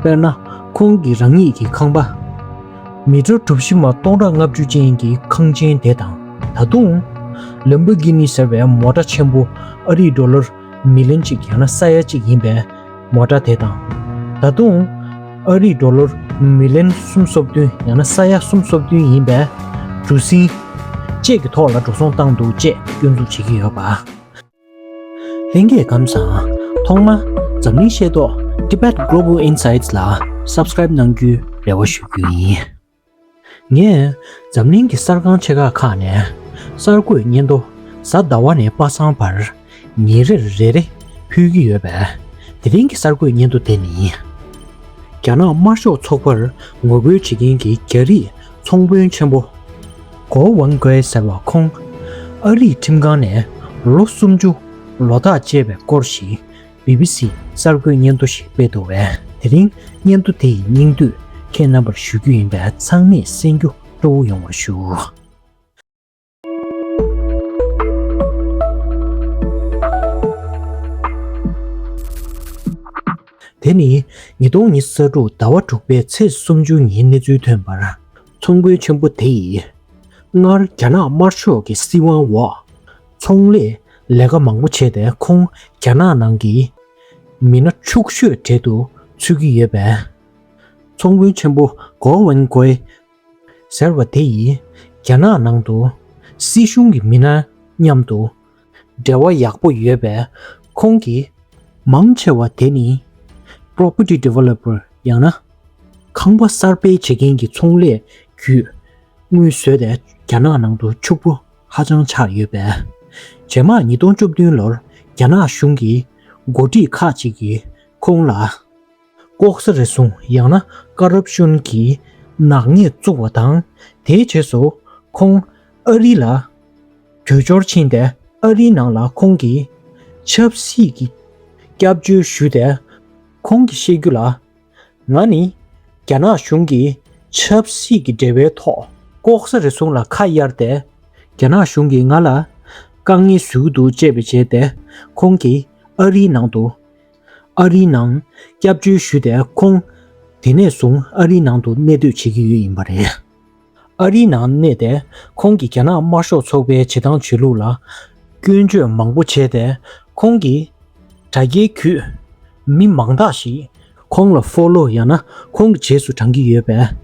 དཔེར་ན། ཁོང་གིས་རང་ཉིད་ཀྱི་ཁང་པ། མི་གྲོ་གྲུ་བཞི་མ་སྟོང་ཕྲག་ལྔ་བཅུ་ཅན་གྱི་ཁང་ཆེན་དེ་དང་ད་དུང། ལེམ་བྷོ་གྷི་ནི་ཟེར་བའི་མོ་ཏྲ་ཆེན་པོ་ཨ་རིག་འགྲོ་ལོར་མི་ལོན་གཅིག་ཡང་ན་ས་ཡ་གཅིག་ཡིན་པའི་མོ་ཏྲ་དེ་དང་ད་དུང། ཨ་རིག་འགྲོ་ལོར་མི་ལོན་གསུམ་སོ་བདུན་ཡང་ན་ས་ཡ་གསུམ་སོ་བདུན་ཡིན་པའི་གྲུ་གཟིངས། བཅས་ཀྱི་ཐོག་ལ་འགྲོ་སོང་བཏང་འདུག་ཅེས་སྐྱོན་འཛུགས་བྱེད་ཀྱི་ཡོད་པ། ལྷན་རྒྱས་ཁམས་བཟང། ཐོག་མ། འཛམ་གླིང་ཤེས་རྟོགས Tibet Global Insights ལ Subscribe གནང་རྒྱུའི་རེ་བ་ཞུ་རྒྱུ་ཡིན། ངས་འཛམ་གླིང་གི་གསར་ཁང་ཆེ་ཁག་ཁག་ནས་གསར་འགོད་སྙན་ཐོ་གཟའ་ཟླ་བ་ནས་པ་སངས་བར་ཉིན་རེར་རེ་རེ་ཕུལ་གྱི་ཡོད་པས་དེ་རིང་གི་གསར་འགོད་སྙན་ཐོ་དེ་ནི། རྒྱ་ནག་དམར་ཤོག་ཚོགས་པར་ངོ་རྒོལ་བྱེད་མཁན་གྱི་རྒྱ་རིགས་ཚོང་དཔོན་ཆེན་པོ། གོ་ཝང་གོའེ་ཟེར་བ་ཁོང། ཨ་རིའི་ཁྲིམས་ཁང་ནས་ལོ་སུམ་ཅུ་ལོ་ཐག་བཅད་པའི་སྐོར་ཞིག་བྷི་བྷི་སི་གསར་འགོད་སྙན་ཐོ་ཞིག་སྤེལ་འདུག་བས་དེ་རིང་སྙན་ཐོ་དེ་ཡི་སྙིང་བསྡུས་ཁྱེད་རྣམ་པར་ཞུ་རྒྱུ་ཡིན་པས་ཚང་མས་གསན་རྒྱུ་སྤྲོ་བོ་ཡོང་བར་ཞུ། དེ་ནི་ཉིས་སྟོང་ཉི་ས་དྲུག་ཟླ་བ་དྲུག་པའི་ཚེས་སུམ་ཅུ་ཉིན་གནས་ཚུལ་ཐོན་པར། ཚོང་དཔོན་ཆེན་པོ་དེ་ཡིས། སྔར་རྒྱ་ནག་དམར་ཕྱོགས་ཀྱི་སྲིད་དབང་འོག་ཚོང་ལས་ལས་ཀ་མང་པོ་བྱས་ཏེ་ཁོང་རྒྱ་ནག་ནང་གི་མི་སྣ་ཕྱུག་ཤོས་གྲལ་དུ་ཚུད་ཀྱི་ཡོད་པས། ཚོང་དཔོན་ཆེན་པོ་གོའུ་ཝེན་གོའི་ཟེར་བ་དེ་ཡིས་རྒྱ་ནག་ནང་དུ་སྲིད་གཞུང་གི་མི་སྣ་མཉམ་དུ་འབྲེལ་བ་ཡག་པོ་ཡོད་པས་ཁོང་གིས། མང་ཆེ་བ་དེ་ནི Property Developer ཡང་ན་ཁང་པ་གསར་སྤེལ་བྱེད་མཁན་གྱི་ཚོང་ལས་བརྒྱུད་དངུལ་བཟོས་ཏེ་རྒྱ་ནག་ནང་དུ་ཕྱུག་པོ་ཧ་ཅང་ཆགས་ཡོད་པས། རྗེས་མར་ཉིས་སྟོང་བཅུ་བདུན་ལོར་རྒྱ་ནག་གཞུང་གི་འགོ་ཁྲིད་ཁག་ཅིག་གིས་ཁོང་ལ། ལྐོག་ཟ་རེ་བཟུང་ཡང་ན་དཀར་རབ་གཤོན་གྱིས་ནག་ཉེས་བཙུགས་བ་དང། དེའི་རྗེས་སུ་ཁོང་ཨ་རི་ལ་བྲོས་འབྱོར་ཕྱིན་ཏེ་ཨ་རིའི་ནང་ལ་ཁོང་གི་ཆབ་སྲིད་ཀྱི་སྐྱབས་བཅོལ་ཞུས་ཏེ། ཁོང་གིས་བཤད་རྒྱུ་ལ། ང་ནི་རྒྱ་ནག་གཞུང་གིས་ཆབ་སྲིད་ཀྱི་འབྲེལ་བའི་ཐོག་ལྐོག་ཟ་རེ་བཟུང་ལ་ཁ་གཡར་ཏེ། རྒྱ་ནག་གཞུང་གིས་ང་ལ་དཀའ་ངལ་བཟོས་ཀྱི་འདུག་ཅེས་པའི་རྗེས་ཏེ་ཁོང་གིས་ཨ་རིའི་ནང་དུ་ཨ་རིའི་ནང་སྐྱབས་བཅོལ་ཞུས་ཏེ་ཁོང་དེ་ནས་བཟུང་ཨ་རིའི་ནང་དུ་གནས་སྡོད་བྱེད་ཀྱི་ཡོད་ཡིན་པ་རེད། ཨ་རིའི་ནང་གནས་ཏེ་ཁོང་གིས་རྒྱ་ནག་དམར་ཤོག་ཚོགས་པའི་བྱེད་སྟངས་བྱེད་ལུགས་ལ་སྐྱོན་བརྗོད་མང་པོ་བྱས་ཏེ་ཁོང་གི་དྲ་རྒྱའི་བརྒྱུད་མི་མང་དག་ཞིག་ཁོང་ལ Follow ཡང་ན་ཁོང་གི་རྗེས་སུ་འབྲང་གི་ཡོད་པས།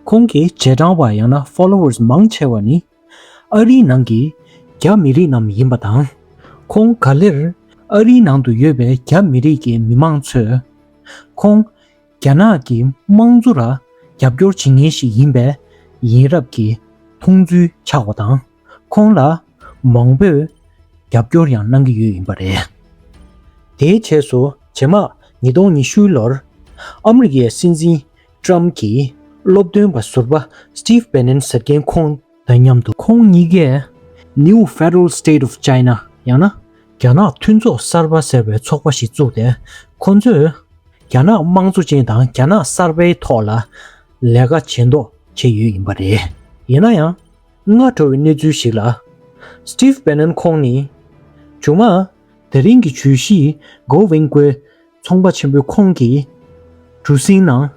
ཁོང་གི་རྗེས་འབྲང་བ་ཡང་ན Followers མང་ཆེ་བ་ནི་ཨ་རིའི་ནང་གི་རྒྱ་མི་རིགས་རྣམས་ཡིན་པ་དང། ཁོང་ག་ལེར་ཨ་རིའི་ནང་དུ་ཡོད་པའི་རྒྱ་མི་རིགས་ཀྱི་མི་མང་ཚོས། ཁོང་རྒྱ་ནག་གི་དམངས་གཙོ་ལ་རྒྱབ་སྐྱོར་བྱེད་མཁན་ཞིག་ཡིན་པའི་ཡིན་རབས་ཀྱི་མཐོང་ཚུལ་ཆགས་པ་དང། ཁོང་ལ་མང་པོས་རྒྱབ་སྐྱོར་ཡང་གནང་གི་ཡོད་ཡིན་པ་རེད། དེའི་རྗེས་སུ་ཇེ་མང་ཉིས་སྟོང་ཉི་ཤུའི་ལོར་ཨ་མི་རི་ཀའི་སྲིད་འཛིན Trump གྱིས་སློབ་སྟོན་པ་ཟུར་པ Steve Bannon ཟེར་མཁན་ཁོང་དང་མཉམ་དུ། ཁོང་གཉིས་ཀས New Federal State of China ཡང་ན་རྒྱ་ནག་མཐུན་ཚོགས་གསར་པ་ཟེར་བའི་ཚོགས་པ་ཞིག་བཙུགས་ཏེ་ཁོང་ཚོས་རྒྱ་ནག་དམངས་གཙོ་ཅན་དང་རྒྱ་ནག་གསར་པའི་ཐོག་ལ་ལས་ཀ་བྱེད་མདོག་བྱས་ཡོད་ཡིན་པ་རེད། ཡིན་ན་ཡང་སྔ་དྲོ་བའི་གནས་ཚུལ་ཞིག་ལ Steve Bannon ཁོང་ནི་ཇོ་མང་དེ་རིང་གི་ཇུས་གཞི་མགོ་དབྱིངས་སྐོས་ཚོང་པ་ཆེན་པོའི་ཁོངས་ཀྱི་གྲུ་གཟིངས་ནང།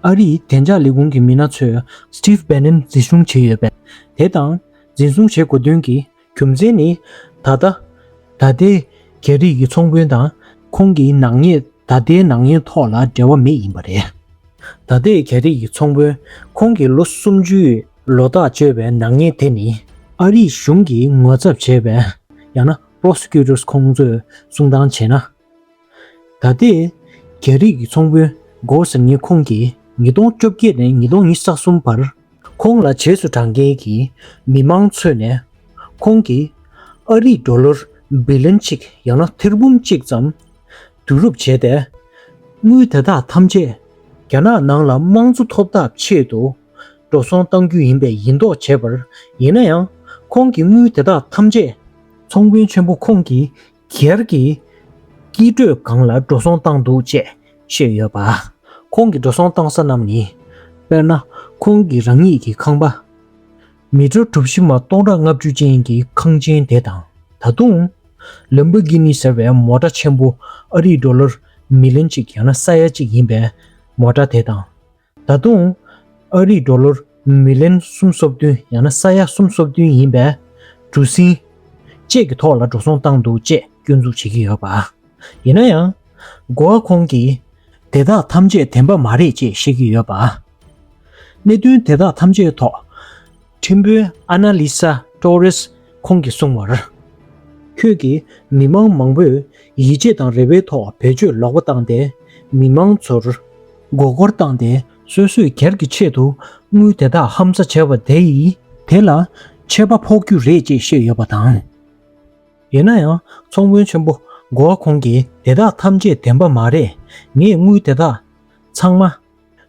ཨ་རིའི་བདེ་འཇགས་ལས་ཁུངས་ཀྱི་མི་སྣ་ཚོས Steve Bannon འཛིན་བཟུང་བྱས་ཡོད་པས་དེ་དང་འཛིན་བཟུང་བྱེད་དགོས་དོན་གྱི་རྒྱུ་མཚན་ནི། ད་ལྟ་ད་ལྟའི་རྒྱ་རིགས་ཀྱི་ཚོང་དཔོན་དང་ཁོང་གི་ནག་ཉེས་ད་ལྟའི་ནག་ཉེས་ཐོག་ལ་འབྲེལ་བ་མེད་ཡིན་པ་རེད། ད་ལྟའི་རྒྱ་རིགས་ཀྱི་ཚོང་དཔོན་ཁོང་གི་ལོ་སུམ་ཅུའི་ལོ་རྟགས་བཅོལ་བའི་ནག་ཉེས་དེ་ནི། ཨ་རིའི་གཞུང་གིས་ངོ་ཚབ་བྱས་པའི་ཡང་ན Prosecutors ཁོང་ཚོས་གསུང་སྟངས་བྱས་ན། ད་ལྟའི་རྒྱ་རིགས་ཀྱི་ཚོང་དཔོན Gor Seung-ye ཁོང་གིས་ཉིས་སྟོང་བཅོ་བརྒྱད་ནས་ཉིས་སྟོང་ཉིས་བརྒྱ་གསུམ་བར་ཁོང་ལ་བྱེས་སུ་བགྲང་མཁན་གྱི་མི་མང་ཚོས་ནས་ཁོང་གིས་ཨ་རིའི་འགྲོ་ལོར་བྷི་ལིན་གཅིག་ཡང་ན་ཐེར་འབུམ་གཅིག་ཙམ་བསྡུ་རུབ་བྱས་ཏེ། དངུལ་དེ་དག་ཐམས་ཅད་རྒྱ་ནག་ནང་ལ་དམངས་གཙོ་ཐོབ་ཐབས་ཆེད་དུ་འགྲོ་སོང་གཏང་རྒྱུ་ཡིན་པའི་ཡིན་མདོག་བྱས་པར་ཡིན་ན་ཡང་ཁོང་གིས་དངུལ་དེ་དག་ཐམས་ཅད་ཚོང་དཔོན་ཆེན་པོ་ཁོང་གིས་གེར་གྱིས་སྐྱིད་སྤྲོད་ཁང་ལ་འགྲོ་སོང་བཏང་འདུག་ཅེས་བཤད་ཡོད་པ། ཁོང་གིས་འགྲོ་སོང་བཏང་ས་རྣམས་ནི། དཔེར་ན། ཁོང་གིས་རང་ཉིད་ཀྱི་ཁང་པ། མི་གྲོ་གྲུ་བཞི་མ་སྟོང་ཕྲག་ལྔ་བཅུ་ཅན་གྱི་ཁང་ཆེན་དེ་དང་ད་དུང། ལན་བྷོ་གྷི་ནི་ཟེར་བའི་མོ་ཏྲ་ཆེན་པོ་ཨ་རིའི་ཀྲོ་ལར་མི་ལོན་གཅིག་ཡང་ན་ས་ཡ་གཅིག་ཡིན་པའི་མོ་ཏྲ་དེ་དང། ད་དུང། ཨ་རིས་འགྲོ་ལོར་མི་ལན་གསུམ་སོ་བདུན་ཡང་ན་ས་ཡ་གསུམ་སོ་བདུན་ཡིན་པས། གྲུ་གཟིངས། བཅས་ཀྱི་ཐོག་ལ་འགྲོ་སོང་བཏང་འདུག་ཅེས་སྐྱོན་འཛུགས་བྱེད་ཀྱི་ཡོད་པ། ཡིན་ན་ཡང། མགོ་བ་ཁོང་གིས། དེ་དག་ཐམས་ཅད་བདེན་པ་མ་རེད་ཅེས་བཤད་ཀྱི་ཡོད་པ། གནད་དོན་དེ་དག་ཐམས་ཅད་ཐོག། ཁྲིམས་དཔོན་ཨ་ན་ལི་སཱ་ཏོ་རེས་ཁོང་གིས་གསུངས་བར། ཁྱོད་ཀྱིས་མི་མང་མང་པོས་ཡིད་ཆེས་དང་རེ་བའི་ཐོག་བེད་སྤྱོད་ལོག་པ་བཏང་སྟེ་མི་མང་ཚོར། མགོ་སྐོར་བཏང་སྟེ་སོད་སོད་གེར་གྱི་ཆེད་དུ་དངུལ་དེ་དག་ཧམ་ཟ་བྱས་པ་དེ་ཡིས། དེ་ལ་ཆད་པ་ཕོག་རྒྱུ་རེད་ཅེས་བཤད་ཡོད་པ་དང། ཡིན་ན་ཡང་ཚོང་དཔོན་ཆེན་པོ་གོ་ཨ་ཁོང་གིས་དེ་དག་ཐམས་ཅད་བདེན་པ་མ་རེད་ངས་དངུལ་དེ་དག་ཚང་མ་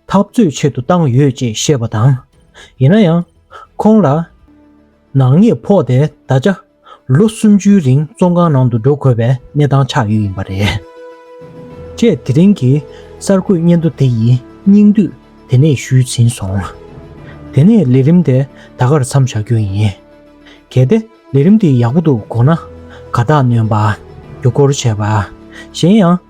འཐབ་རྩོད་ཆེད་དུ་བཏང་ཡོད་ཅེས་བཤད་པ་དང། ཡིན་ན་ཡང། ཁོང་ལ། ནག་ཉེས་ཕོག་སྟེ་ད་ཆ། ལོ་སུམ་ཅུའི་རིང་བཙོན་ཁང་ནང་དུ་འགྲོ་དགོས་པའི་གནས་སྟངས་ཆགས་ཡོད་ཡིན་པ་རེད། ཅེས་དེ་རིང་གི་གསར་འགོད་སྙན་ཐོ་དེ་ཡི་སྙིང་བསྡུས་དེ་ནས་ཞུས་ཟིན་སོང། དེ་ནས་ལས་རིམ་དེ་ད་གར་མཚམས་བཞག་རྒྱུ་ཡིན། གལ་ཏེ་ལས་རིམ་དེ་ཡག་པོ་འདུག་དགོངས་ན། དགའ་རྟགས་ནོན་པ། རྒྱུ་སྐོར་བྱས་པ། གཞན་ཡང།